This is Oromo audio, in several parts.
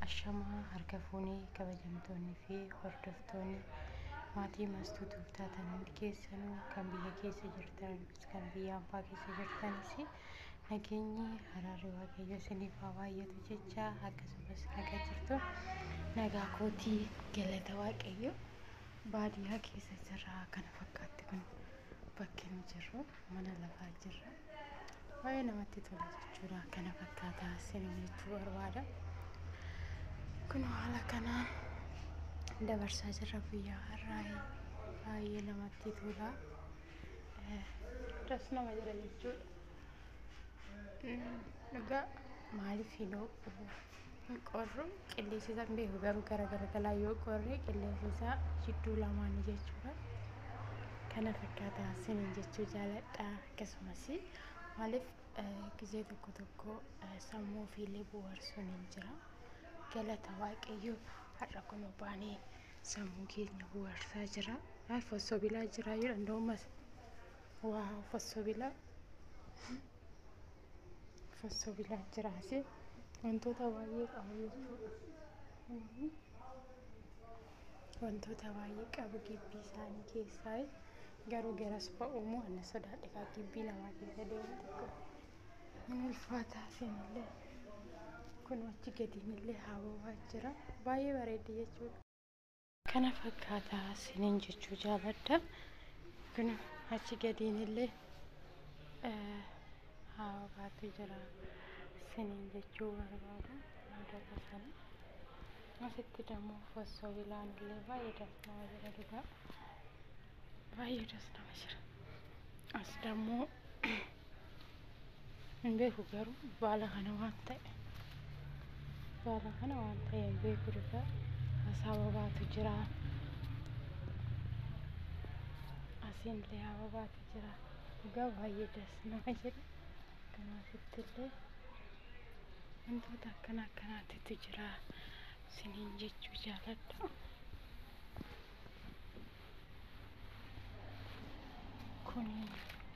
Ashamaa harka fuunee kabajamtoonni fi hordoftoonni maatii mastuu tuuftaa tan hundi keessanuu kan biyya keessa jirtanis kan biyya abbaa keessa jirtanis nageenyi haraarri waaqayyo isiniif haa baay'atu jecha akkasumas nagaa jirtu nagaa kootii galata waaqayyo baadiyyaa keessa jirra kana fakkaatti kun bakki nu jirru mana lafaa jirra. baay'ee namatti tola jechuudha kana fakkaataa sinin jechuu barbaada kun haala kanaan dabarsaa jirra guyyaa har'aa baay'ee namatti tola das nama jira jechuudha dhugaa maaliif hin ho'u hin qorru qilleensi isaa hin beeku garuu gara garagalaa yoo qorre qilleensi isaa jidduu lamaanii jechuudha kana fakkaataa sinin jechuu jaaladha Akkasumas maaliif gizee tokko tokko sammuu ofiillee bohaarsuun hin jira. Galata Waaqayyo har'a kun baanee sammuu keenya bohaarsaa jira. Ay fossoo bilaa jira yoo danda'u mas. Waa fossoo bilaa. Fossoo bilaa jira asii. Wantoota baay'ee qabu jechuudha. wantoota baay'ee qabu gibbii isaanii keessaa garuu garas ba'uumoo anna sodaadhifaa gibbii namaa keessa deemu tokko hin ulfaataa seenillee kun achi gadiinillee haabawaa jira baay'ee bareeddi jechuudha. Kana fakkaataa sinin jechuu jaaladha kun achi gadiinillee haabawaatu jira sinin jechuu barbaada. Asitti damo fosso bilaan illee baay'ee das nama jedha dhugaa. Baay'ee das nama jira. As damo hin beeku garuu baala kana waan ta'e. Baala kana waan ta'e hin beeku dhugaa. Asaa babaatu jira. Asiin illee haa babaatu jira. Dhugaa baay'ee das nama jedha. Kanaaf itti illee. Wantoota akkana akkanaatitu jira siniin jechuu jaaladha. Kun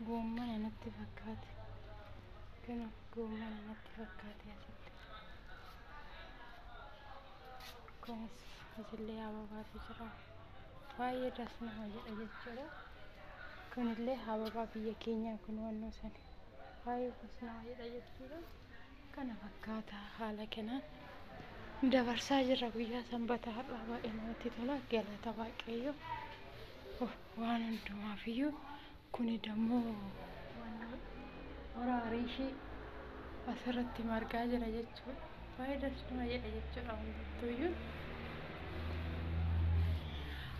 goommana natti fakkaate. Kun goommana natti fakkaate asitti. Kunis asillee ababaatu jira. Baay'ee das nama jedha jechuudha. Kunillee ababaa biyya keenyaa kun wannoo sani. baay'ee kunis nama jedha jechuudha. Kana fakkaata haala kanaan dabarsaa jirra guyyaa sanbata har'aa baay'ee namatti tola galata waaqayyo waan hundumaaf iyyuu kuni dammoo horaa riishii asirratti margaa jira jechuudha. Baay'ee das nama jedha jechuudha hundumtuu iyyuu.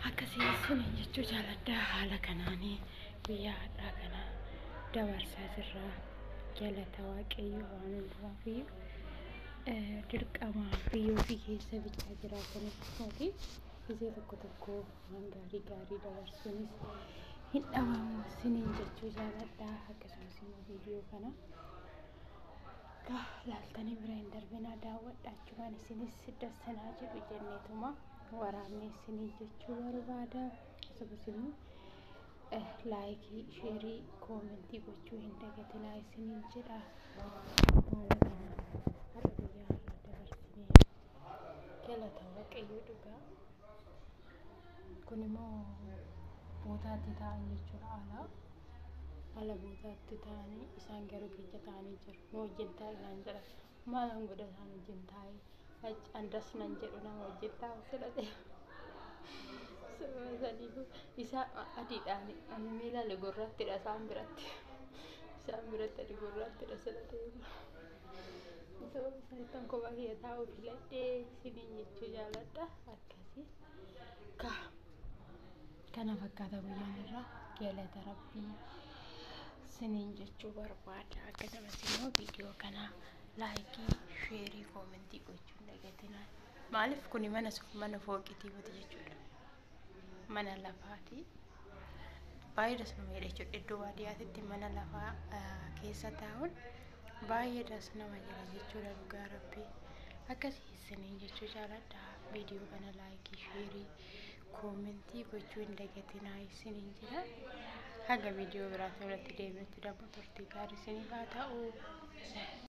Akkasii isin jechuu jaaladha haala kanaanii. guyyaa hadhaa kana dabarsaa jirraa galata waaqayyo waan hundumaa fi dirqamaa biyyoo fi keessa bichaa jiraataniif mootii gisee tokko tokko waan gaarii gaarii dabarsuunis hin dhabamu siniin jechuu jaaladhaa akkasumas immoo viidiyoo kana akka laaltanii bira hin darbinaa daawwadha achumaan isinis dassanaa jedhu jenneetuma waraabnee siniin jechuu barbaada. akkasumas immoo eh, laayikii sheerii koomentii gochuu hin dagatinaa isiniin jedha haala kanaan har'a guyyaa irra dabarsinee galata waaqayyo dhugaa kun immoo bootaatti ta'an jechuudha alaa ala bootaatti ta'anii isaan garuu keenya ta'anii jiru nu wajjin taa'inaan jedha Maalan godha isaan wajjin taa'ee andas nan jedhu nama wajjin taa'u filadhe. Sababa saniifuu isaa adiidhaan ani miilaale gurraattidha isaan biratti. Isaan biratti ani gurraattidha filadhee. Sababa sanittan kophaa kiyya taa'u filadhee isiniin jechuu jaaladha akkasii. Kaa. kana fakkaata guyyaan irraa galata rabbii siniin jechuu barbaada akkasumas immoo viidiyoo kana laayikii sheerii koomentii gochuun dagatinaa maaliif kuni mana sun mana fooqitii miti jechuudha mana lafaati baay'ee das nama jedha jechuudha iddoo baadiyyaatitti mana lafaa keessa taa'uun baay'ee das nama jedha jechuudha dhugaa rabbii akkasii isiniin jechuu jaaladha viidiyoo kana laayikii sheerii koomentii gochuu hin dagatinaa isiniin jira haga viidiyoo biraatiin irratti deebi'utti dammoo turtii gaarii isiniif haa ta'u.